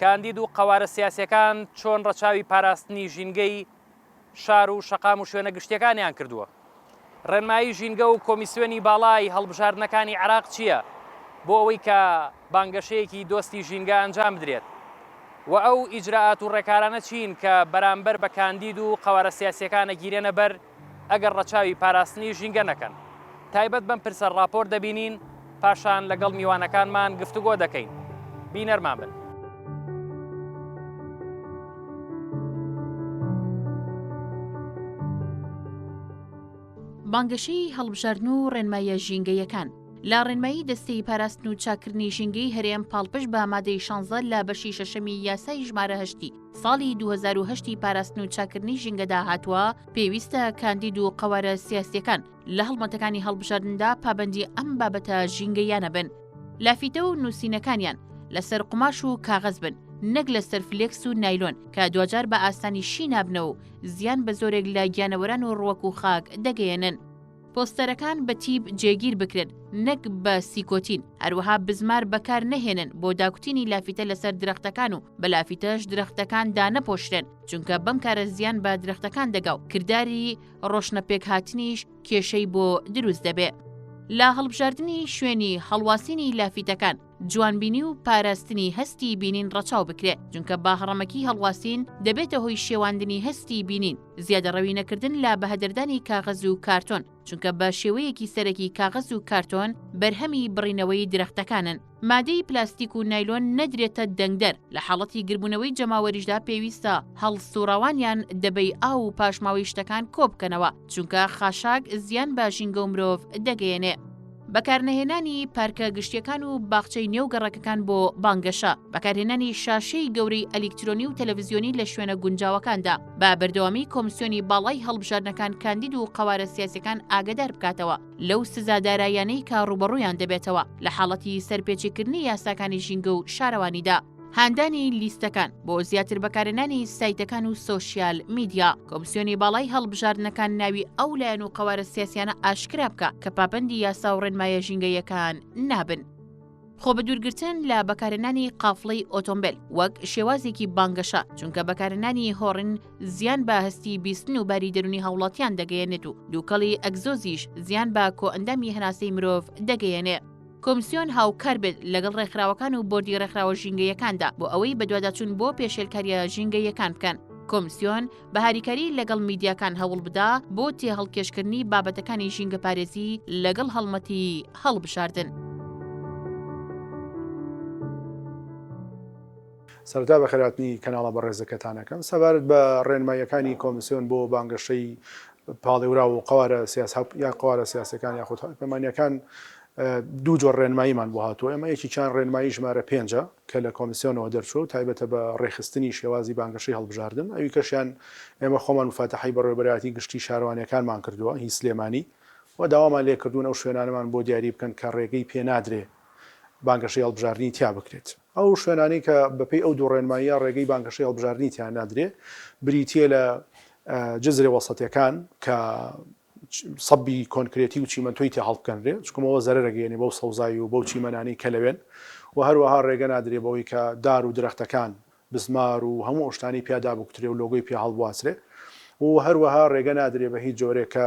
کاندید و قەوارە سیاسییەکان چۆن ڕەچاوی پاراستنی ژینگەی شار و شەقام و شوێنە گشتییەکانیان کردووە؟ ڕێنمایی ژینگە و کۆمیسیۆنی باڵای هەڵبژاردنەکانی عێراق چییە بۆ ئەوەی کە بانگەشەیەکی دۆستی ژینگە ئەنجام بدرێت و ئەو ئیجرائات و ڕێکارانە چین کە بەرامبەر بە کاندید و قەوارە سیاسییەکان ئەگیرێنە بەر ئەگەر ڕەچاوی پاراستنی ژینگە نەکەن. تایبەت بەم پرسە ڕاپۆرت دەبینین، پاشان لەگەڵ میوانەکانمان گفتوگۆ دەکەین. بینەرمان بن. بانگەشەی هەڵبژاردن و ڕێنماییە ژینگەیەکان لە ڕێنمایی دەستەی پاراستن و چاککردنی ژینگەی هەرێم پاڵپشت بە مادەی شانزە لە بەشی شەشەمی یاسای ژمارە هەشتی ساڵی دوو هەزار و هەشت ی پاراستن و چاککردنی ژینگەدا هاتووە، پێویستە کاندید و قەوارە سیاسییەکان لە هەڵمەتەکانی هەڵبژاردندا پابەندی ئەم بابەتە ژینگەییانە بن. لافیتە و نووسینەکانیان لەسەر قوماش و کاغەز بن، نەک لەسەر فلێکس و نایلۆن کە دواجار بە ئاسانی شی نابنەوە و زیان بە زۆرێک لە گیانەوەران و ڕوەک و خاک دەگەیەنن. پۆستەرەکان بە تیب جێگیر بکرێن نەک بە سیکۆتین، هەروەها بزمار بەکار نەهێنن بۆ داکوتینی لافیتە لەسەر درەختەکان و بە لافیتەش درەختەکان دانەپۆشرێن چونکە بەم کارە زیان بە درەختەکان دەگا و کرداری ڕۆشنەپێکهاتنیش کێشەی بۆ دروست دەبێ. لە هەڵبژاردنی شوێنی هەڵواسینی لافیتەکان، جوانبینی و پاراستنی هەستی بینین ڕەچاو بکرێ، جونکە باهڕەمەکی هەڵواسین دەبێتە هۆی شێواندنی هەستی بینین، زیادەڕەوی نەکردن لە بەهەدەردانی کاغەز و کارتۆن، چونکە بە شێوەیەکی سەرەکی کاغەز و کارتۆن بەرهەمی بڕینەوەی درەختەکانن. مادەی پلاستیک و نایلۆن نەدرێتە دەنگدەر، لە حاڵەتی گربونەوەی جەماوەریشدا پێویستە هەڵسوڕاوانیان دەبەی ئاو و پاشماوەی شتەکان کۆبکەنەوە، چونکە خاشاک زیان بە ژینگە و مرۆڤ دەگەیەنێ. بەکارنەهێنانی پارکە گشتیەکان و باخچەی نێو گەڕەکەکان بۆ بانگەشە بەکارهێنانی شاشەی گەورەی ئەلیکترۆنی و تەلەڤزیۆنی لە شوێنە گونجاوەکاندا بە بەردەوامی کۆمسیۆنی باڵای هەڵبژاردنەکان کاندید و قەوارە سیاسەکان ئاگدار بکاتەوە لەو سزادارایانەی کە ڕوبەڕویان دەبێتەوە لە حاڵەتی سەرپێچیکردنی یاساکانی ژینگە و شارەوانیدا هاندانی لیستەکان بۆ زیاتر بەکارێنانی سایتەکان و سۆسیال میدیا کۆمسیۆنی باڵای هەڵبژاردنەکان ناوی ئەو لایەن و قەوارە سیاسیانە ئاشکرا بکە کە پابندی یاسا و ڕێنمایە ژینگەیەکان نابن. خۆ بە دوورگرتن لە بەکارێنانی قافڵەی ئۆتۆمبیل وەک شێوازێکی بانگەشە چونکە بەکارێنانی هۆڕن زیان بە هەستی بیستن و باری دەرونی هاوڵاتیان دەگەیەنێت و دووکەڵی ئەگزۆزیش زیان بە کۆئەندامی هەناسەی مرۆڤ دەگەیەنێ. کۆمسیۆن هاوکار بێت لەگەڵ ڕێکخراوەکان و بۆردی ڕێکخراوە ژینگەیەکاندا بۆ ئەوەی بەدواداچوون بۆ پێشێلکاریە ژینگەیەکان بکەن. کۆمسیۆن بە هاریکاری لەگەڵ میدیاکان هەوڵ بدا بۆ تێهەڵکێشکردنی بابەتەکانی ژینگەپارێزی لەگەڵ هەڵمەتی هەڵبژاردن. سەرتا بەخێراتنی کەناڵە بەڕێزەکەتانەکەم سەبارەت بە ڕێنماییەکانی کۆمسیۆن بۆ بانگەشەی پاڵێوراو و قەوارە سیاس هاو یا قەوارە سیاسەکان یاخود هاوپەیمانیەکان دوو جۆر ڕێنماییمان بۆ هاتووە ئێمە یەکێکیان ڕێنمایی ژمارە پێنجە کە لە کۆمیسیۆنەوە دەرچووە و تایبەتە بە ڕێکخستنی شێوازی بانگەشەی هەڵبژاردن ئەویکەشیان ئێمە خۆمان موفاتەحەی بەڕێوەبەرایەتی گشتی شارەوانیەکانمان کردووە هی سلێمانی و داوامان لێکردوون ئەو شوێنانەمان بۆ دیاری بکەن کە ڕێگەی پێنادرێ بانگەشەی هەڵبژاردنی تیا بکرێت. ئەو شوێنانەی کە بەپێی ئەو دوو ڕێنماییە ڕێگەی بانگەشەی هەڵبژاردنی تیا نادرێ بریتییە لە جزرێ وەسەتیەکان کە سەبی کۆنکرێتی و چیمەنتۆی تیا هەڵبکەنرێ چکمەوە زەرەگەیەنێ بەو سەوزایی و بەو چیمەنانەی کە لەوێن و هەروەها ڕێگە نادرێ بەوەی کە دار و درەختەکان بزمار و هەموو ئەوشتانی پیا دابکوترێ و لۆگۆی پیا هەڵبواسرێ و هەروەها ڕێگە نادرێ بە هیچ جۆرێک کە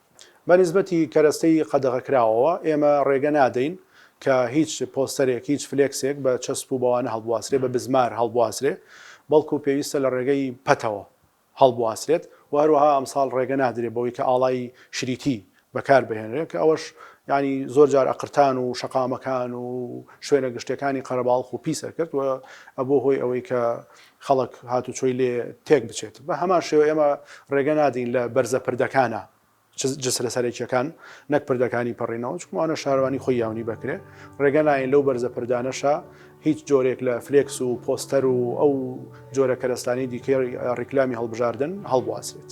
بە نیسبەتی کەرەستەی قەدەغەکراوەوە، ئێمە ڕێگە نادەین کە هیچ پۆستەرێک، هیچ فلێکسێک بە چەسپ و بەوانە هەڵبواسرێ، بە بزمار هەڵبواسرێ، بەڵکو پێویستە لە ڕێگەی پەتەوە هەڵبواسرێت و هەروەها ئەمساڵ ڕێگە نادرێ بەوەی کە ئاڵای شریتی بەکار بهێنرێ کە ئەوەش یانی زۆر جار ئەقرتان و شەقامەکان و شوێنە گشتیەکانی قەرەباڵخ و پیس ئەکرد و ئەبوو هۆی ئەوەی کە خەڵک هاتوچۆی لێ تێک بچێت. بە هەمان شێوە ئێمە رێگە نادەین لە بەرزە پردەکانە جسرە سەرەکییەکان نەک پردەکانی پەڕینەوە، چونکە ئەوانە شارەوانی خۆی یاونی بەکرێ، رێگە نایەین لەو بەرزە پردانەشە هیچ جۆرێک لە فلێکس و پۆستەر و ئەو جۆرە کەرەستانەی دیکەی ریکلامی هەڵبژاردن هەڵبواسرێت.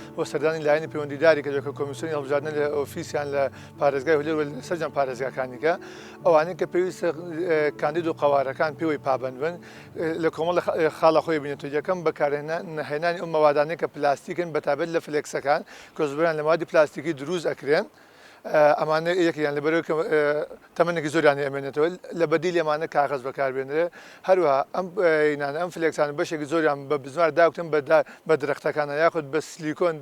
و سەردانی لایەنی پەیوەندیداری کردووە کە کۆمیسیۆنی هەڵبژاردنە لە ئۆفیسیان لە پارێزگای هەولێر و سەرجەم پارێزگاکانیکە ئەوانەی کە پێویستە کاندید و قەوارەکان پێوەی پابەند بن لە کۆمەڵ خاڵە خۆی بینێت و یەکەم بەکارهێنانی ئەو مەوادانەی کە پلاستیکن بەتابەت لە فلێکسەکان کۆزبران لە مادی پلاستیکی دروست ئەکرێن ئەمانە یەکێکیان لەبەرئەوەی کە تەمەنێکی زۆریان هەیە ئەمێنێتەوە، لە بەدیلی ئەمانە کاغەز بەکاربێنرێ، هەروەها ئەم ئینانە ئەم فلێکسانە بەشێکی زۆریان بە بزمار داکوتن بە بە درەختەکانە یاخود بە سلیکۆن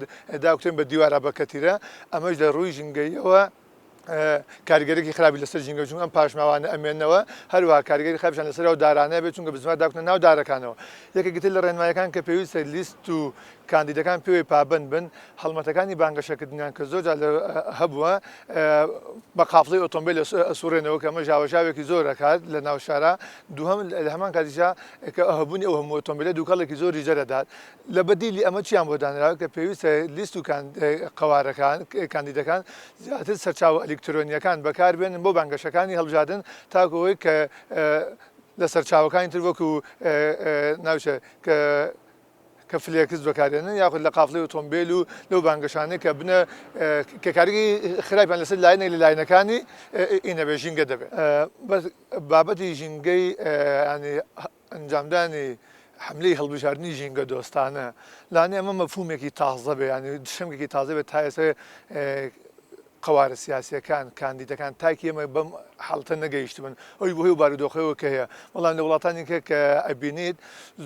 داکوتن بە دیوارا بە کەتیرە، ئەمەش لە ڕووی ژینگەییەوە کاریگەریی خراپی لەسەر ژینگە چونکە ئەم پاشماوانە ئەمێنەوە، هەروەها کاریگەری خراپیشیان لەسەر ئەو دارانە بێت چونکە بزمار داکوتنە ناو دارەکانەوە، یەکێکی تر لە ڕێنماییەکان کە پێویستە لیست و کاندیدەکان پێوەی پابەند بن، هەڵمەتەکانی بانگەشەکردنیان کە زۆر جار هەبووە بە قافڵەی ئۆتۆمبێل ئەسوڕێنەوە کە ئەمە ژاوەژاوێکی زۆر دەکات لە ناو شارا، دووهەم لە هەمان کاتیشا کە هەبوونی ئەو هەموو ئۆتۆمبێلە دووکەڵێکی زۆریش دەردەدات، لە بەدیلی ئەمە چیان بۆ دانراوە کە پێویستە لیست و قەوارەکان، کاندیدەکان زیاتر سەرچاوە ئەلیکترۆنییەکان بەکاربێنن بۆ بانگەشەکانی هەڵبژاردن تاکو ئەوەی کە لە سەرچاوەکانی تر وەکو ناوی چیە کە. کە فلێکس بەکاردێنن یاخود لە قافڵەی ئۆتۆمبێل و لەو بانگەشانەی کە بنە کە کاریگەی خراپیان لەسەر لایەنێک لە لایەنەکانی ئینە بێ ژینگە دەبێت بەس بابەتی ژینگەی ینی ئەنجامدانی حملەی هەڵبژاردننی ژینگە دۆستانە لانی ئەمە مەفومێکی تازە بێ ینی شەمێکی تازە بێت تا ئێستا قەوارە سیاسیەکان، کاندیدەکان تاکی ئێمە بەم حاڵەتە نەگەیشتبن، ئەوش بەهۆی ئەو بارودۆخەوە کە هەیە، بەڵام لە وڵاتانی کە کە ئەبینیت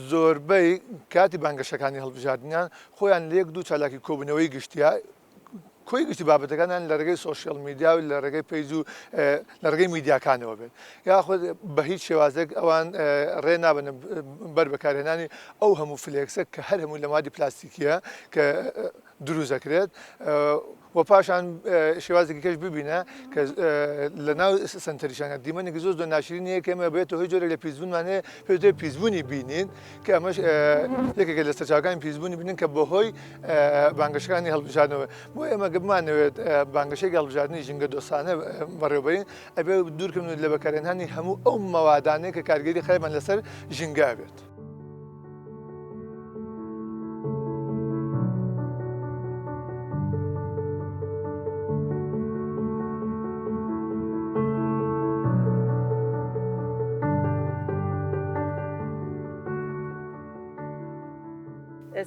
زۆربەی کاتی بانگەشەکانی هەڵبژاردنیان خۆیان لە یەک دوو چالاکی کۆبوونەوەی گشتیا کۆی گشتی بابەتەکانیان لە ڕێگەی سۆشیال میدیا و لە ڕێگەی پەیج و لە ڕێگەی میدیاکانەوە بێت یاخود بە هیچ شێوازێک ئەوان ڕێ نابن بەر بەکارهێنانی ئەو هەموو فلێکسە کە هەر هەموو لە مادی پلاستیکیە کە دروست دەکرێت وە پاشان شێوازێکی کەش ببینە کە لە ناو سنتەریشانە دیمەنێکی زۆر زۆر ناشرین یە کەمە بێت هۆی جۆرە لە پیسبوونمانێ پێ پیسبوونی بینین کە ئەمەش یەکێکە لە سەرچاوەکانی پیسبوونی بینن کە بەهۆی بانگەشەکانی هەڵبژاردنەوە بۆ ئێمە گەبمانەوێت بانگەشێکی هەڵبژاردننی ژینگە دۆستانە بەڕێوبەرین ئەبێ دوورکەون لە بەکارێنانی هەموو ئەو مەوادانەیە کە کارگەری خراپمان لەسەر ژینگا بێت.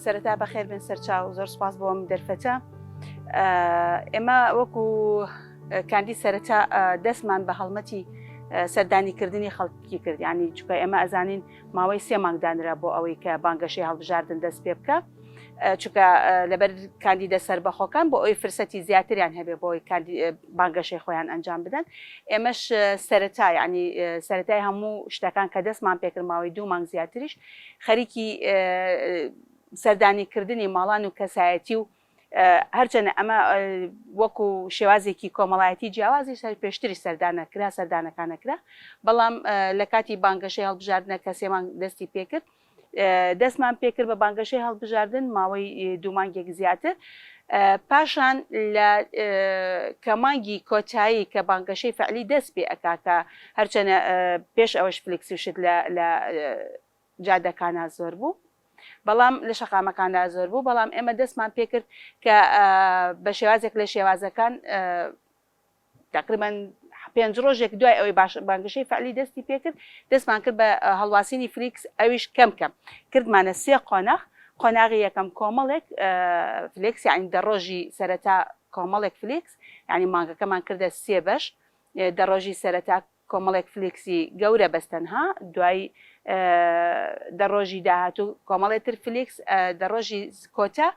سەرەتا بەخێر بن سەرچاو زۆر سپاس بۆم دەرفەتە ئێمە وەکو کاندی سەرەتا دەستمان بە هەڵمەتی سەردانیکردنی خەڵک کی کرد یانی چکە ئێمە ئەزانین ماوەی سێ مانگ دانرا بۆ ئەوەی کە بانگەشەی هەڵبژاردن دەست پێ بکە چکە لەبەر کاندیدە سربەخۆکان بۆ ئەوی فرسەتی زیاتریان هەبێ بۆی بانگەشەی خۆیان ئەنجام بدەن ئێمەش سەرەتا ینی سەرەتای هەموو شتەکان کە دەستمان پێکرماوەی دوو مانگ زیاتریش خەریکی سەردانی کردنی ماڵان و کەسایەتی و هەرچەنە ئەمە وەکو شێوازێکی کۆمەڵایەتی جیاوازی سەر پێشتری سەردانە کرا سەردانەکانە کرا بەڵام لە کاتی بانگەشەی هەڵبژاردنە کە سێمان دەستی پێکرد دەستمان پێکرد بە بانگەشەی هەڵبژاردن ماوەی دوومانگێک زیاتر پاشان لە کەمانگی کۆتایی کە بانگەشەی فعلی دەست پێ ئەکاکە هەرچەنە پێش ئەوەش فلکسی شت لە جادەکانا زۆر بوو بەڵام لە شەقامەکاندا زۆر بوو بەڵام ئێمە دەستمان پێکرد کە بە شێوازێک لە شێوازەکان تقریبان پێنج ڕۆژێک دوای ئەوەی باش بانگشەی فعلی دەستی پێکرد دەستمان کرد بە هەڵواسینی فلیکس ئەویش کەم کەم کردمانە سێ قۆناغ قۆناغی یەکەم کۆمەڵێک فلکس یعنی دە ڕۆژی سەرەتا کۆمەڵێک فلیکس ینی مانگەکەمان کردە سێ بەش دە ڕۆژی سەرەتا کۆمەڵێک فلیکسی گەورە بەس تەنها دوای دە ڕۆژی داهاتوو کۆمەڵێ تر فلیکس دە ڕۆژی کۆتا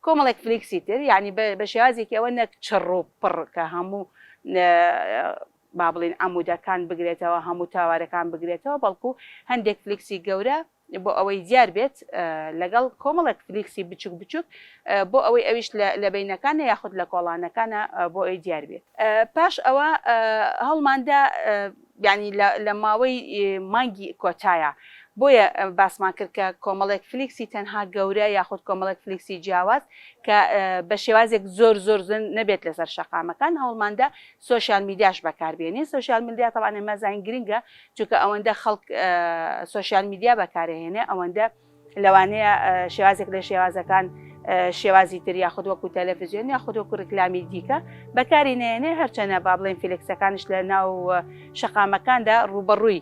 کۆمەڵێک فلیکسی تر یعنی بە شێوازێکی ئەوە نەک چڕ و پڕ کە هەموو با بڵین عمودەکان بگرێتەوە هەموو تاوارەکان بگرێتەوە بەڵکو هەندێک فلیکسی گەورە بۆ ئەوەی دیار بێت لەگەڵ کۆمەڵێک فلیکسی بچوک بچوک بۆ ئەوەی ئەویش لە بینەکانە یاخود لە کۆڵانەکانە بۆ ئەوی دیار بێت پاش ئەوە هەوڵماندا یعنی لە ماوەی مانگی کۆتایە بۆیە باسمان کرد کە کۆمەڵێک فلیکسی تەنها گەورە یاخود کۆمەڵێک فلیکسی جیاواز کە بە شێوازێک زۆر زۆر زن نەبێت لەسەر شەقامەکان هەوڵماندا سۆشیال میدیاش بەکار بێنین سۆشیال میدیا تەبعەن ئێمە زانین گرنگە چونکە ئەوەندە خەڵک سۆشیال میدیا بەکار ئەهێنێ ئەوەندە لەوانەیە شێوازێک لە شێوازەکان شێوازی تر یاخود وەکو تەلەفزیۆن یاخود وەکو ڕکلامی دیکە بەکاری نێنێ هەرچەنە با بڵێن فیلکسەکانش لە ناو شەقامەکاندا ڕوبەڕووی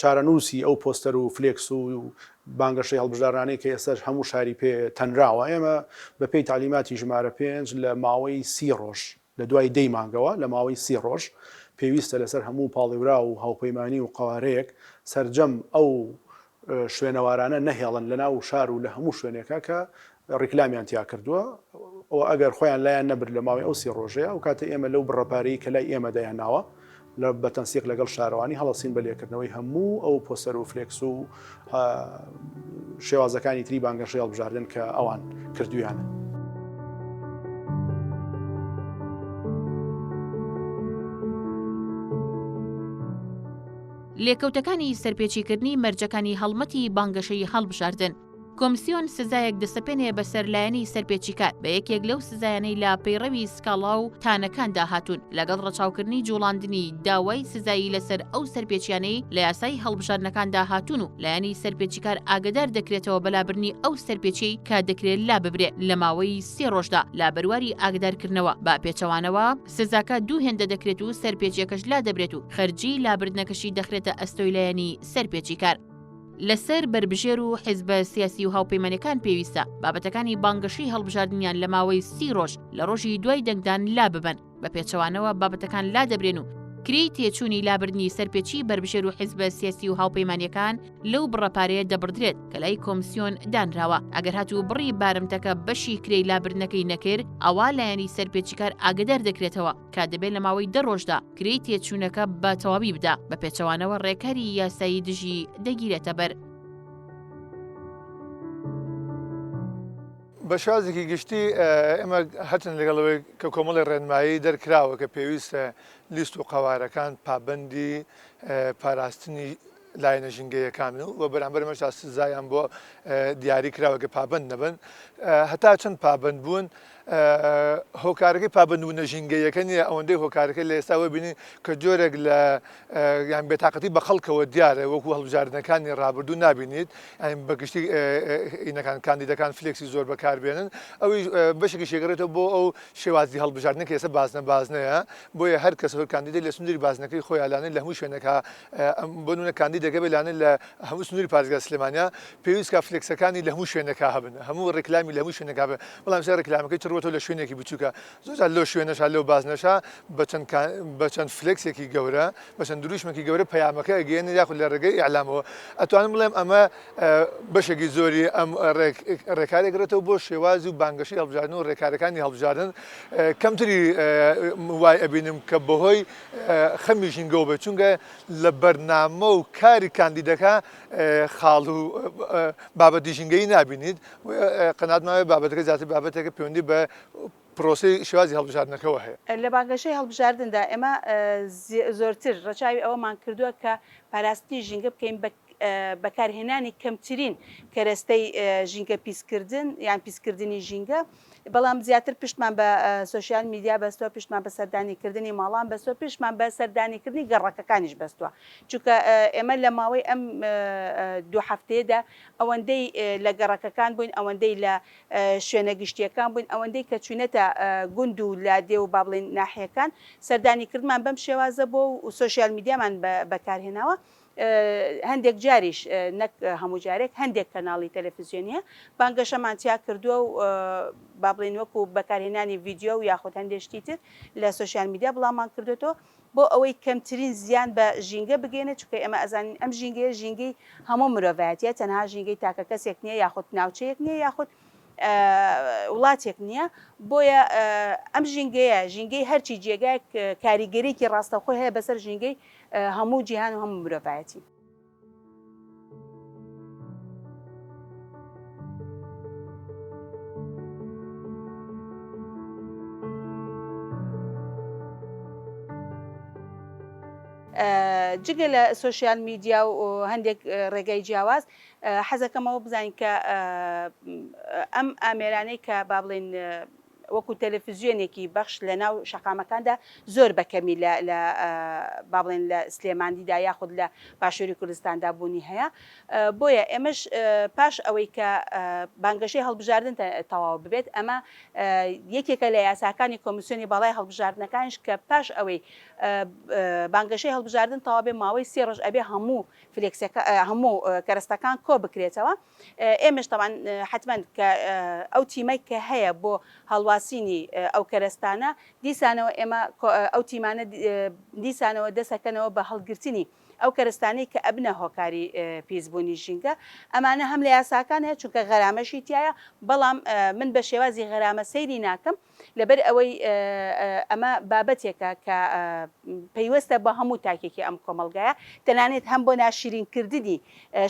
چارەنووسی ئەو پۆستەر و فلێکس و بانگەشەی هەڵبژاردنانەی کە ئێستاش هەموو شاری پێ تەنراوە، ئێمە بە پێی تەعلیماتی ژمارە پێنج لە ماوەی سی ڕۆژ، لە دوای دەی مانگەوە لە ماوەی سی ڕۆژ پێویستە لەسەر هەموو پاڵێوراو و هاوپەیمانی و قەوارەیەک سەرجەم ئەو شوێنەوارانە نەهێڵن لە ناو شار و لە هەموو شوێنێکە کە ڕیکلامیان تیا کردووە و ئەگەر خۆیان لایان نەبرد لە ماوەی ئەو سێ ڕۆژەیە، ئەو کاتە ئێمە لەو بڕە پارەی کە لای ئێمە دایانناوە لە بە تەنسیق لەگەڵ شارەوانی هەڵەسین بە لێکردنەوەی هەموو ئەو پۆسەر و فلێکس و شێوازەکانی تری بانگەشەی هەڵبژاردن کە ئەوان کردویانە. لێکەوتەکانی سەرپێچیکردنی مەرجەکانی هەڵمەتی بانگەشەی هەڵبژاردن. کۆمسیۆن سزایەک دەسەپێنێ بەسەر لایەنی سەرپێچیکار بە یەکێک لەو سزایانەی لە پەیڕەوی سکاڵا و تانەکاندا هاتوون لەگەڵ ڕەچاوکردنی جوڵاندنی داوای سزایی لەسەر ئەو سەرپێچیانەی لە یاسای هەڵبژاردنەکاندا هاتوون و لایەنی سەرپێچیکار ئاگەدار دەکرێتەوە بە لابرنی ئەو سەرپێچیەی کە دەکرێت لاببرێ لە ماوەی سێ ڕۆژدا لە بەرواری ئاگدارکردنەوە بە پێچەوانەوە سزاکە دوو هێندە دەکرێت و سەرپێچیەکەش لادەبرێت و خەرجیی لابردنەکەشی دەخرێتە ئەستۆی لایەنی سەرپێچیکار. لەسەر بەربژێر و حیزبە سیاسی و هاوپەیمانەکان پێویستە بابەتەکانی بانگەشەی هەڵبژاردنیان لە ماوەی سی ڕۆژ لە ڕۆژی دوای دەنگدان لا ببەن بە پێچەوانەوە بابەتەکان لا دەبرێن و کرێی تێچووی لابردنی سەرپێچی بەربژێر و حیزبە سیاسی و هاوپەیمانەکان لەو بڕەپارەیە دەبڕدرێت کە لای کۆمسیۆن دانراوە ئەگەر هات و بڕی بارمتەکە بەشی کرێی لابردنەکەی نەکرد ئەوا لایەنی سەرپێچیکار ئاگدار دەکرێتەوە کە دەبێ لە ماوەی دە ڕۆژدا کرێی تێچوونەکە بە تەواوی بدا، بە پێچەوانەوە ڕێکاری یاسایی دژی دەگیرێتە بەر. بە شازێکی گشتی ئێمە هەرچەند لەگەڵەوەی کە کۆمەڵی ڕێنمایی دەرکراوە کە پێویستە لیست و قەوارەکان پابەندی پاراستنی لایەنە ژینگەییەکان و بە بەرامبەر ئەمەشدا سزایان بۆ دیاری کراوە کە پابەند نەبن هەتا چەند پابەند بوون هۆکارەکەی پابندبوونە ژینگەیەکە نیە ئەوەندەی هۆکارەکە لە ئێستا وەبینین کە جۆرێک لە یان بێتاقەتی بە خەڵکەوە دیارە وەکو هەڵبژاردنەکانی ڕابردوو نبینیت ئەین بە گشتی ئینەکان کاندیدەکان فلێکسی زۆر بەکاربێنن ئەوی بەشێکی شێگەڕێتەوە بۆ ئەو شێوازی هەڵبژاردنە کە ئێستا بازنە بازنەیە بۆیە هەر کەس هەر کاندیدی لە سندری بازنەکەی خۆیانانە لە هەموو شوێنەکە بۆ نمونە کاندیدەکە بێ لانە لە هەموو سنووری پارێزگای سلێمانییە، پێویست کا فلێکسەکانی لە هەموو شوێنەکا هەبن، هەموو ڕیکلامی لە هەموو شوێنەکا بێ، بەڵام ئیستا ڕیکلامەکەی چڕووەتەوە لە شوێنێکی بچووکە، زۆر جار لەو شوێنەشا، لەو بازنەشا بە چەند کا بە چەند فلێکسێکی گەورە، بە چەند درووشمێکی گەورە پەیامەکە ئەگەیەنن یاخود لە ڕێگەی ئیعلامەوە. ئەتوانم بڵێم ئەمە بەشێکی زۆری ئەم ڕێک ڕێکارە ئەگرێتەوە بۆ شێوازی و بانگەشەی هەڵبژاردن و ڕێکارەکانی هەڵبژاردن. کەمتری وای ئەبینم کە بەهۆی خەمی ژینگەوە بێت چونگە لە بەرنامە و کاری کاندیدەکە خاڵ و بابەتی ژینگەی نبینیت قەناتماوێت بابەتەکە زیاتر بابەتێکە پەیوەندی بە پرۆسی شێوازی هەڵبژاردنەکەەوە هەیە. لە بانگەشەی هەڵبژاردندا ئێمە زۆرتر ڕەچاوی ئەوەمان کردووە کە پاراستنی ژینگە بکەین بە بەکارهێنانی کەمترین کەرەستەی ژینگە پیسکردن یان پیسکردنی ژینگە بەڵام زیاتر پشتمان بە سوسیال میدیا بەستوە پشتمان بە سەردانی کردنی ماڵان بەسوە پشتمان بە سەردانی کردنی گەڕەکەکانیش بەستوە چونکە ئێمە لە ماوەی ئەم دوو هەفتەیەدا ئەوەندەی لە گەڕەکەکان بووین ئەوەندەی لە شوێنە گشتیەکان بووین ئەوەندەی کە چوینەتە گوند و لە دێ و بابلین ناحیەکان سەردانی کردمان بەم شێوازە بۆ و سوسیال میدیامان بەکارهێناوە هەندێک جاریش نەک هەموو جارێک هەندێک کەناڵی تەلەفزیۆنیە بانگەشەمان تیا کردووە و با بڵێن وەکو بەکارهێنانی ڤیددیو و یاخود هەندێک شتی تر لە سوسیال میدیا بڵاومان کردوێتەوە بۆ ئەوەی کەمترین زیان بە ژینگە بگەێنێت چکە ئێمە ئەزانین ئەم ژینگەیە ژینگەی هەموو مرۆڤایەتە تەنها ژینگەی تاکە کەسێک نییە یاخود ناوچەیەک نییە یاخود وڵاتێک نییە بۆیە ئەم ژینگەیە ژینگەی هەرچی جێگایەک کاریگەرێکی ڕاستەخۆی هەیە بەسەر ژینگەی هەموو جیهان و هەموو مرۆڤایەتی. جگە لە سۆشیال میدیا و هەندێک ڕێگای جیاواز حەزەکەمەوە بزانین کە ئەم ئامێرانەی کە با بڵێن وەکو تەلەفزیۆنێکی بەخش لە ناو شەقامەکاندا زۆر بە کەمی لە لە با بڵێن لە سلێماندیدا یاخود لە باشووری کوردستاندا بوونی هەیە بۆیە ئێمەش پاش ئەوەی کە بانگەشەی هەڵبژاردن تەواو ببێت ئەمە یەکێکە لە یاساکانی کۆمیسیۆنی باڵای هەڵبژاردنەکانش کە پاش ئەوەی بانگەشەی هەڵبژاردن تەواو بێ ماوەی سێ ڕۆژ ئەبێ هەموو فلێکسەکە هەموو کەرەستەکان کۆ بکرێتەوە ئێمەش تەبعەن حەتمەن کە ئەو تیمەی کە هەیە بۆ هەڵواسینی ئەو کەرەستانە دیسانەوە ئێمە ئەو تیمانە دیسانەوە دەسەکەنەوە بە هەڵگرتنی ئەو کەرەستانەی کە ئەبنە هۆکاری پیسبوونی ژینگە ئەمانە هەم لە یاساکان هەیە چونکە غەرامەشی تایە بەڵام من بە شێوازی غەرامە سەیری ناکەم لەبەر ئەوەی ئەمە بابەتێکە کە پەیوەستە بە هەموو تاکێکی ئەم کۆمەڵگایە تەنانێت هەم بۆ ناشرین کردنی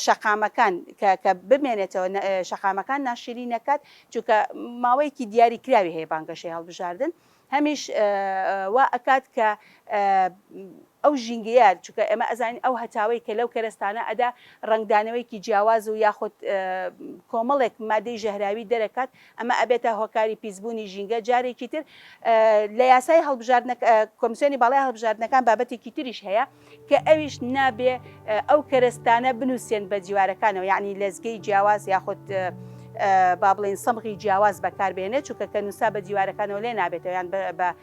شەقامەکان کە بمێنێتەوە شەقامەکان ناشرین نەکات چونکە ماوەیەکی دیاری کراوی هەیە بانگەشەی هەڵبژاردن هەمیش وا ئەکات کە ئەو ژینگەیە چونکە ئێمە ئەزانین ئەو هەتاوەی کە لەو کەرستانە ئەدا ڕنگدانەوەیکی جیاواز و یاخود کۆمەڵێک مادەی ژەهراوی دەرەکات ئەمە ئەبێتە هۆکاری پیسبوونی ژینگە جارێکی تر لە یاسای هەڵبژاردنە کۆمسیۆنی باڵای هەڵبژاردنەکان بابەتێکی تریش هەیە کە ئەویش نابێ ئەو کەرەستانە بنووسێن بە دیوارەکانەوە یعنی لەزگەی جیاواز یاخود با بڵین سەمغی جیاواز بەکاربێنێت چونکە کە نووسا بە دیوارەکانەوە لێ نابێتەوە یان بە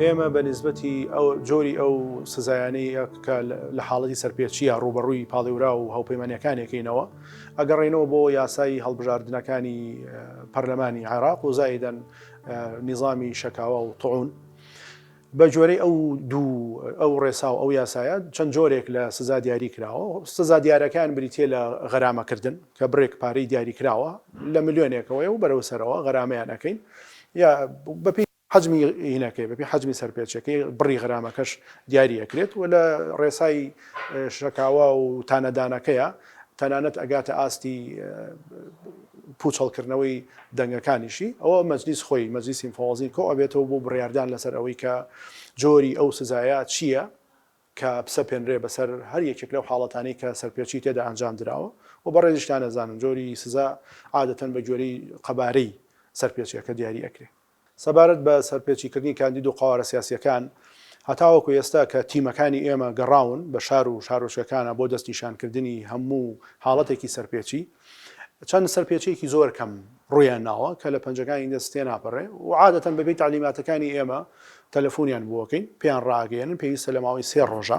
ئێمە بە نسبەتی ئەو جۆری ئەو سزایانەی کە لە حاڵەتی سەرپێچیە ڕوبەڕووی پاڵێورا و هەوپەیمانەکانێکینەوە ئەگەڕێنەوە بۆ یاسایی هەڵبژاردنەکانی پەرلەمانی عێراق و زایدەن نیظامی شەکاوە و تەعون بە گوێرەی ئەو دوو ئەو ڕێسا و ئەو یاسایە چەند جۆرێک لە سزا دیاری کراوە، سزا دیارەکان بریتییە لە غەرامە کردن کە بڕێک پارەی دیاری کراوە لە ملیۆنێکەوەیە و بەرەو سەرەوە غەرامەیان ئەکەین یا بە پێی حەجمی هینەکەی بە پێی حەجمی سەرپێچەکەی بڕی غەرامەکەش دیاری ئەکرێت و لە ڕێسای شەکاوە و تانە دانەکەیە تەنانەت ئەگاتە ئاستی پوچەڵکردنەوەی دەنگەکانیشی، ئەوە مەجلیس خۆی، مەجلیسی مفەوەزین کۆ ئەبێتەوە بۆ بڕیاردان لەسەر ئەوەی کە جۆری ئەو سزایە چییە کە بسەپێنرێ بەسەر هەر یەکێک لەو حاڵەتانەی کە سەرپێچی تێدا ئەنجام دراوە و بەڕێزیشتان ئەزانن جۆری سزا عادەتەن بە گوێرەی قەبارەی سەرپێچییەکە دیاری ئەکرێ. سەبارەت بە سەرپێچیکردنی کاندید و قەوارە سیاسییەکان، هەتاوەکو ئێستا کە تیمەکانی ئێمە گەڕاون بە شار و شارۆچکەکانا بۆ دەستنیشانکردنی هەموو حاڵەتێکی سەرپێچی، چەند سەرپێچییەکی زۆر کەم ڕوویان ناوە کە لە پەنجەکانی دەست تێناپەرێ و عادەتەن بەپێی تەعلیماتەکانی ئێمە تەلەفونیان بۆکەین پێیان ڕائەگەیەنن پێویستە لە ماوەی سێ ڕۆژا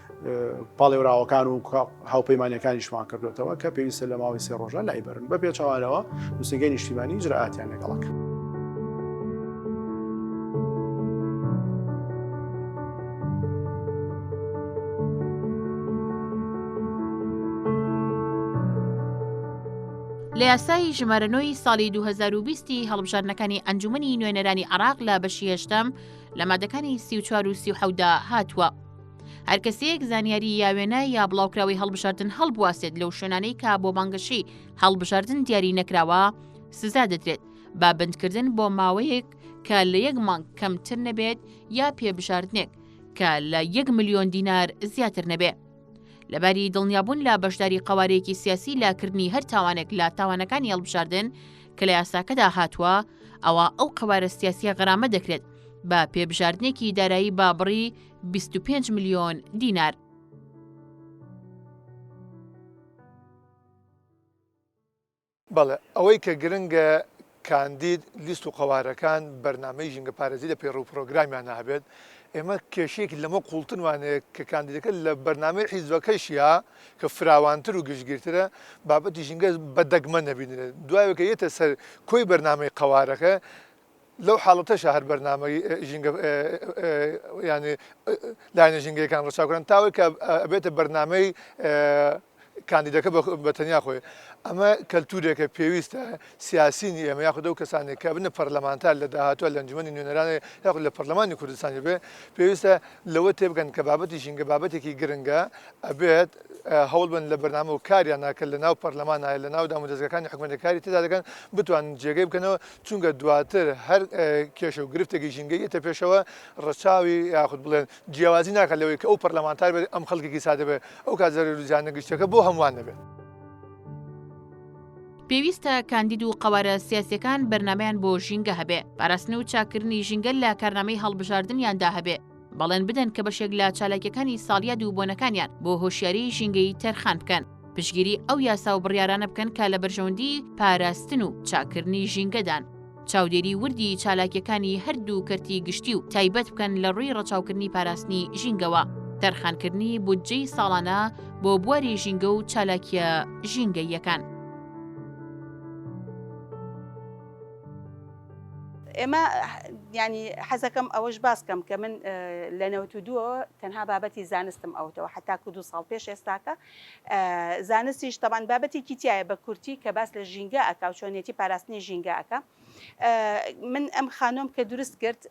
پاڵێوراوەکان و هاوپەیمانەکانیشمان کردوێتەوە کە پێویستە لە ماوەی سێ ڕۆژە لایبرن بە پێچوانەوە نووسنگەی نیشتیمانی جرئاتیان لەگەڵک. لە یاسایی ژمارەنۆی ساڵی 2020 هەڵبژاردنەکانی ئەنجومنی نوێنەرانی عراق لە بەشی هێشتم لە مادەکانی سی و چوار و سیحەودا هاتووە. هەر کەسەیەک زانیاری یا وێنە یا بڵاوکراوەی هەڵبژاردن هەڵبواسێت لەو شوێنانەی کا بۆ بانگەشەی هەڵبژاردن دیاری نەکراوە سزا دەدرێت با بندکردن بۆ ماوەیەک کە لە یەک مانگ کەمتر نەبێت یا پێبژاردنێک کە لە یەک ملیۆن دینار زیاتر نەبێ. لەباری دڵنیابوون لە بەشداری قوارەیەکی سیاسی لاکردنی هەر تاوانێک لە تاوانەکانی هەڵبژاردن کە لە یاساکەدا هاتووە ئەوە ئەو قوارە سیاسیە غەرامە دەکرێت بە پێبژاردنێکی دارایی بابڕی بیست و پێنج ملیۆن دینار. بەڵێ ئەوەی کە گرنگە کاندید لیست و قەوارەکان بەرنمەی ژینگە پارێزی لە پێڕوو پرۆگرامیانە هەبێت ئێمە کێشێکی لەمە قوڵتنوانەیە کە کاندیدەکە لە بەرنمەی حیزبەکەشیا کە فراوانتر و گشتگیرترە بابەتی ژینگە بە دەگمە نەبینێت دوایەکە یەتە سەر کۆی بەرنمەی قەوارەکە لەو حاڵەتەشا هەر بەرنامەی ژینگە یانی لایەنە ژینگەیەکان ڕەچاوکران تاوەی کە ئەبێتە بەرنمەی کاندیدەکە بە تەنیا خۆی ئەمە کەلتورێکە پێویستە سیاسینی ئێمە یاخود ئەو کەسانێک کە بنە پەرلەمانتار لە داهاتوە لە ئەنجومی نوێنەرانێ یاخود لە پەرلەمانی کوردستانی بێ پێویستە لەوە تێبگەن کە بابەتی ژینگە بابەتێکی گرنگە ئەبێت هەوڵ بن لە بەرنامە و کاریان ناکرد لە ناو پەرلەمانایە لە ناو دام و دەستگەکانی حکومەتەکاری تێدا دەکەن بتوان جێگەی بکەنەوە چونکە دواتر هەر کێشە و گرفتێکی ژینگەی دێتە پێشەوە ڕەچاوی یاخود بڵێن جیاوازی ناکات لەوەی کە ئەو پەرلەمانتار بێت ئەم خەڵکێکی سادە بێت ئەو کات زەرەر و زیانە گشتیەکە بۆ هەمووان دەبێت. پێویستە کاندید و قەوارە سیاسییەکان بەرنامەیان بۆ ژینگە هەبێ، پاراستن و چاککردنی ژینگە لە کارنامەی هەڵبژاردنیاندا هەبێ، بەڵێن بدەن کە بەشێک لە چالاکیەکانی ساڵیا دوو بۆنەکانیان بۆ هۆشیاری ژینگەی تەرخان بکەن پشگیری ئەو یاسا و بڕیارانە بکەن کە لە بەرژەوەندی پاراستن و چاکردنی ژینگەدان چاودێری وردی چالاکیەکانی هەردوو کەرتی گشتی و تایبەت بکەن لە ڕووی ڕەچاوکردنی پاراستنی ژینگەوە تەرخانکردنی بودجەی ساڵانە بۆ بواری ژینگە و چالاکیە ژینگەییەکان. ئێمە یانی حەزەکەم ئەوەش باس کەم کە من لە نەوت و دووەوە تەنها بابەتی زانستم ئەوتەوە حتاکو دو ساڵ پێش ئێستاکە زانستیش تەبان بابەتێکی تایە بە کورتی کە باس لە ژینگە ئەکا و چۆنیەتی پاراستنی ژینگە ئەکە من ئەم خانۆم کە دروست کرد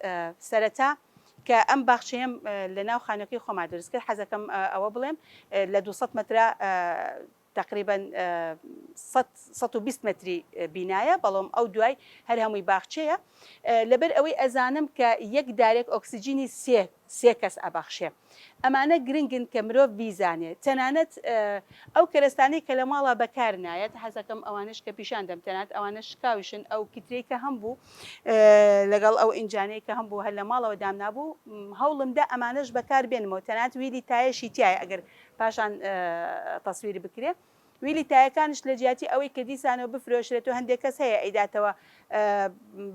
سەرەتا کە ئەم باخچەیەم لە ناو خانەکەی خۆما دروست کرد حەزەکەم ئەوە بڵێم لە 200 مترا تەقریبەن سەد سەد و بیست مەتری بینایە بەڵام ئەو دوای هەر هەمووی باخچەیە لەبەر ئەوەی ئەزانم کە یەک دارێک ئۆکسجینی سێ سێ کەس ئەبەخشێ ئەمانە گرنگن کە مرۆڤ بیزانێ تەنانەت ئەو کەرەستانەی کە لە ماڵا بەکار نایەت حەزەکەم ئەوانش کە پیشان دەم تەنات ئەوانە شکاوشن ئەو کترەی کە هەم بوو لەگەڵ ئەو ئینجانەی کە هەم بوو هەر لە ماڵەوە دامنابوو هەوڵمدا ئەمانەش بەکار بێنمەوە تەنات ویلی تایشی تایە ئەگەر پاشان تەسویر بکرێ ویلی تایەکانش لە جیاتی ئەوەی کە دیسانەوە بفرۆشرێت و هەندێک کەس هەیە ئەیداتەوە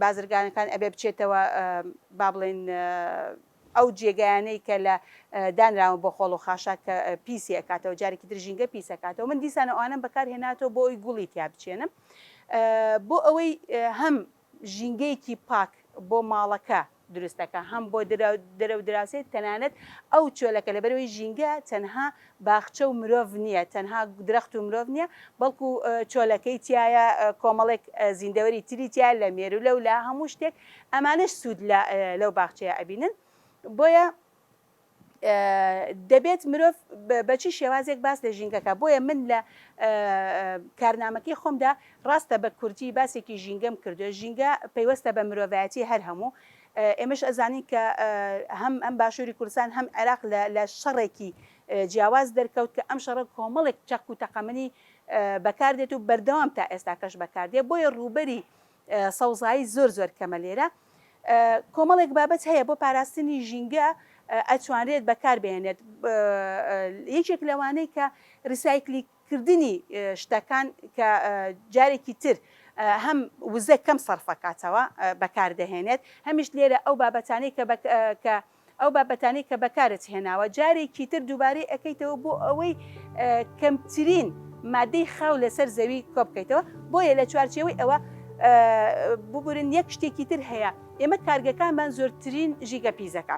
بازرگانەکان ئەبێ بچێتەوە با بڵێن ئەو جێگایانەی کە لە دانراوە بۆ خۆڵ و خاشاک کە پیسی ئەکاتەوە جارێکی تر ژینگە پیسەکاتەوە من دیسانە ئەوانم بەکار هێناتەوە بۆ ئەوی گوڵی تیا بچێنم بۆ ئەوەی هەم ژینگەیەکی پاک بۆ ماڵەکە دروست دەکات هەم بۆ دەرە و دراوسێ تەنانەت ئەو چۆلەکە لەبەرەوەی ژینگە تەنها باخچە و مرۆڤ نییە تەنها درەخت و مرۆڤ نییە بەڵکو چۆلەکەی تایە کۆمەڵێک زیندەوەری تری تیا لە مێرولە و لە هەموو شتێک ئەمانش سوود لەو باخچەیە ئەبینن بۆیە دەبێت مرۆڤ بە چی شێوازێک باس لە ژینگە کە بۆیە من لە کارنامەکەی خۆمدا ڕاستە بە کورتی باسێکی ژینگەم کردو ژینگە پەیوەستە بە مرۆڤایەتی هەر هەموو ئێمەش ئەزانین کە هەم ئەم باشووری کوردستان هەم عێراق لە شەڕێکی جیاواز دەرکەوت کە ئەم شەڕە کۆمەڵێک چەک و تەقەمەنی بەکاردێت و بەردەوام تا ئێستا کەش بەکاردێ بۆیە ڕووبەری سەوزایی زۆر زۆر کەمە لێرە کۆمەڵێک بابەت هەیە بۆ پاراستنی ژینگە ئەتوانرێت بەکار بێنێت یەکێک لەوانەی کە ریسایکلی کردنی شتەکان کە جارێکی تر هەم وزە کەم سەرفەکاتەوە بەکاردەهێنێت هەمیش لێرە ئەو بابەتانەی کە ئەو بابەتانەی کە بەکارت هێناوە جارێکی تر دووبارەی ئەکەیتەوە بۆ ئەوەی کەمترین مادەی خاو لەسەر زەوی کۆبکەیتەوە بۆیە لە چوارچێوەی ئەوە ببورن یەک شتێکی تر هەیە ئێمە کارگەکانمان زۆرترین ژیگە پیزەکە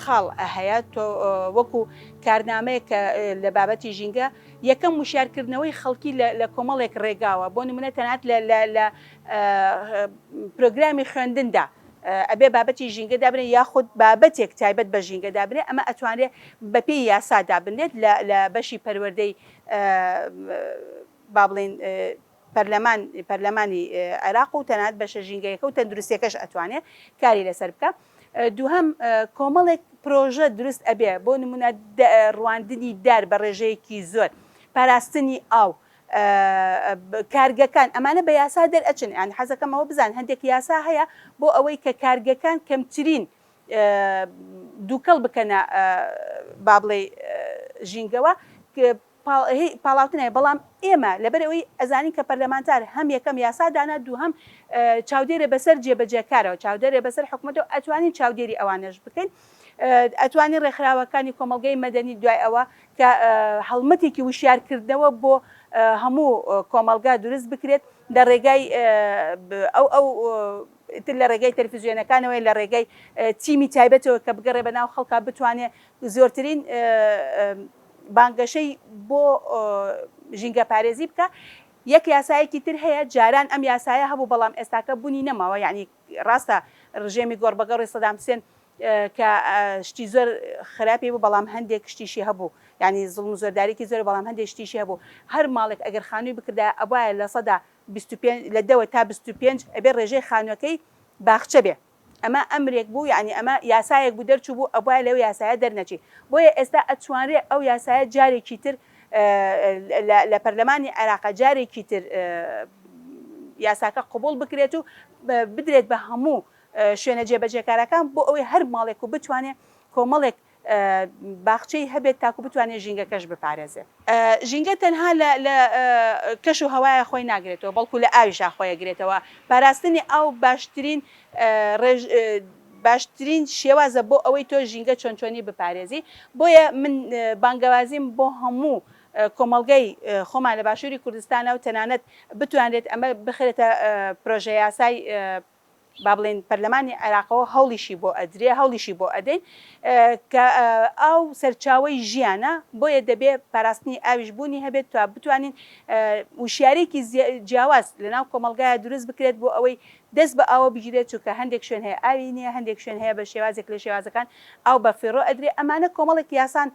خاڵ هەیە تۆ وەکو کارنامەیەک کە لە بابەتی ژینگە یەکەم وشیار کردنەوەی خەڵکی لە کۆمەڵێک ڕێگاوە بۆ نمونە تەنات لە پرۆگرامی خوێندندا ئەبێ بابەتی ژینگە دابنێ یاخود بابەتێک تایبەت بە ژینگە دابنێ ئەمە ئەتوانێت بەپێی یاسا دابنێت لە بەشی پەروەردەی با بڵێن پەرلەمان پەرلەمانی عێراق و تەنانەت بەشە ژینگەیەکە و تەندروستیەکەش ئەتوانێ کاری لەسەر بکا دووهەم کۆمەڵێک پرۆژە دروست ئەبێ بۆ نمونە ڕواندنی دار بە ڕێژەیەکی زۆر پاراستنی ئاو کارگەکان ئەمانە بە یاسا دەرئەچن یان حەزەکەمەوە بزان هەندێک یاسا هەیە بۆ ئەوەی کە کارگەکان کەمترین دووکەڵ بکەنە با بڵێ ژینگەوە پاڵاوتنە بەڵام ئێمە لەبەر ئەوەی ئەزانین کە پەرلەمانتار هەم یەکەم یاسا دانا دووهەم چاودێرە بەسەر جێ بەجێ کارەوە چاودێرە بەسەر حکومەتەوە ئەتوانین چاودێری ئەوانەش بکەین ئەتوانین ڕێکخراوەکانی کۆمەڵگەی مەدەنی دوای ئەوە کە هەڵمەتێکی وشیار کردنەوە بۆ هەموو کۆمەڵگا دروست بکرێت لە ڕێگای ئەو ئەو تر لە ڕێگەی تەلفزیۆنەکانەوەی لە ڕێگەی تیمی تایبەتەوە کە بگەڕێ بە ناو خەڵکا بتوانێ زۆرترین بانگەشەی بۆ ژینگەپارێزی بکە. یەک یاسایەکی تر هەیە، جاران ئەم یاسایە هەبوو بەڵام ئێستاکە بونی نەماوە، یەعنی ڕاستە ڕژێمی گۆڕبەگۆڕی سەدام حسێن کە شتی زۆر خراپی بوو بەڵام هەندێک شتیشی هەبوو، یەعنی زوڵم و زۆرداریکی زۆر بەڵام هەندێک شتیشی هەبوو، هەر ماڵێک ئەگەر خانوی بکردایە ئەبوایە لە سەدا بیست و پێنج لە دە تا بیست و پێنج ئەبێ ڕێژەی خانوەکەی باخچە بێ. ئەمە ئەمرێک بوو یانی ئەمە یاسایەک بوو دەرچووبوو ئەبوایە لەو یاسایە دەرنەچی بۆیە ئێستا ئەتوانرێ ئەو یاسایە جارێکی تر لە پەرلەمانی عێراق جارێکی تر یاساکە قبول بکرێت و بدرێت بە هەموو شوێنە جێبەجێکارەکان بۆ ئەوەی هەر ماڵێک و بتوانێت کۆمەڵێک باخچەی هەبێت تاکو بتوانێت ژینگەکەش بپارێزێت. ژینگە تەنها لە لە کەش و هەوایە خۆی ناگرێتەوە بەڵکو لە ئاویشا خۆی ئەگرێتەوە، پاراستنی ئاو باشترین ڕێژ باشترین شێوازە بۆ ئەوەی تۆ ژینگە چۆن چۆنی بپارێزی، بۆیە من بانگەوازیم بۆ هەموو کۆمەڵگەی خۆمان لە باشوری کوردستانە و تەنانەت بتوانرێت ئەمە بخرێتە پرۆژە یاسای با بڵێین پەرلەمانی عێراقەوە هەوڵیشی بۆ ئەدرێ، هەوڵیشی بۆ ئەدەین، کە ئاو سەرچاوەی ژیانە، بۆیە دەبێ پاراستنی ئاویش بوونی هەبێت تا بتوانین وشیارییەکی جیاواز لە ناو کۆمەڵگایا دروست بکرێت بۆ ئەوەی دەست بە ئاوە بگیرێت، چونکە هەندێک شوێن هەیە ئاوی نییە، هەندێک شوێن هەیە بە شێوازێک لە شێوازەکان ئاو بە فیڕۆ ئەدرێ، ئەمانە کۆمەڵێک یاسان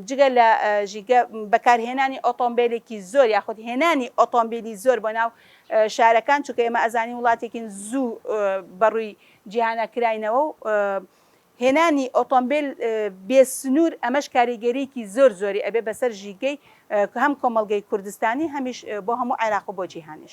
جگە لە ژینگە، بەکارهێنانی ئۆتۆمبێلێکی زۆر یاخود هێنانی ئۆتۆمبیلی زۆر بۆ ناو شارەکان، چونکە ئێمە ئەزانین وڵاتێکین زوو بەڕووی جیهانە کراینەوە و هێنانی ئۆتۆمبیل بێ سنوور ئەمەش کاریگەریکی زۆر زۆری ئەبێ بەسەر ژیگەی هەم کۆمەڵگەی کوردستانی هەمیش بۆ هەموو عێراق و بۆ جیهانیش.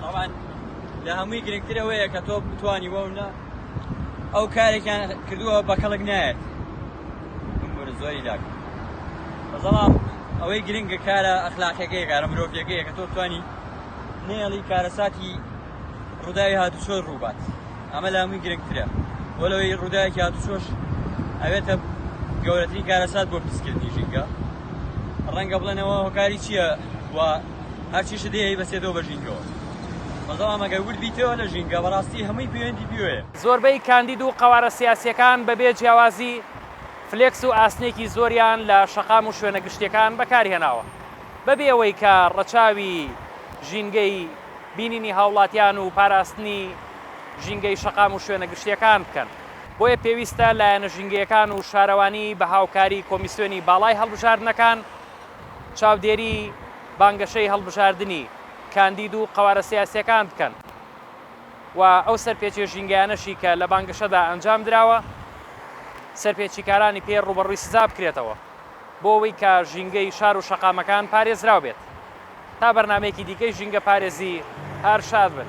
تاوان لە هەمووی گرنگتر ئەوەیە کە تۆ بتانی وە نە ئەو کارێکیان کردووە بە کەڵک نایەت زۆری لاک بەڵام ئەوەی گرنگە کارە ئەخلاقەکەی کارە مرۆڤەکەیە کە تۆ توانی نێڵی کارەساتی ڕووداوی هاتوچۆ ڕووبات ئەمە لە هەمووی گرنگترە بۆ لەوەی ڕووداوێکی هاتوچۆش ئەوێتە گەورەترین کارەسات بۆ پیسکردنی ژینگە ڕەنگە بڵێنەوە هۆکاری چییە و هەرچیشت هەیە ئەیبەسێتەوە بە ژینگەوە بەڵام ئەگەر ورد بیتەوە لە ژینگە بەڕاستی هەمووی پەیوەندی پێوەیە. زۆربەی کاندید و قەوارە سیاسییەکان بەبێ جیاوازی فلێکس و ئاسنێکی زۆریان لە شەقام و شوێنە گشتییەکان بەکارهێناوە بەبێ ئەوەی کە ڕەچاوی ژینگەی بینینی هاوڵاتیان و پاراستنی ژینگەی شەقام و شوێنە گشتییەکان بکەن بۆیە پێویستە لایەنە ژینگەیەکان و شارەوانی بە هاوکاری کۆمیسیۆنی باڵای هەڵبژاردنەکان چاودێری بانگەشەی هەڵبژاردنی کاندید و قەوارە سیاسییەکان بکەن و ئەو سەرپێچیە ژینگەیانەشی کە لە بانگەشەدا ئەنجام دراوە سەرپێچیکارانی پێ ڕووبەڕووی سزا بکرێتەوە بۆ ئەوەی کە ژینگەی شار و شەقامەکان پارێزراو بێت تا بەرنامەیەکی دیکەی ژینگە پارێزی هەر شاد بن.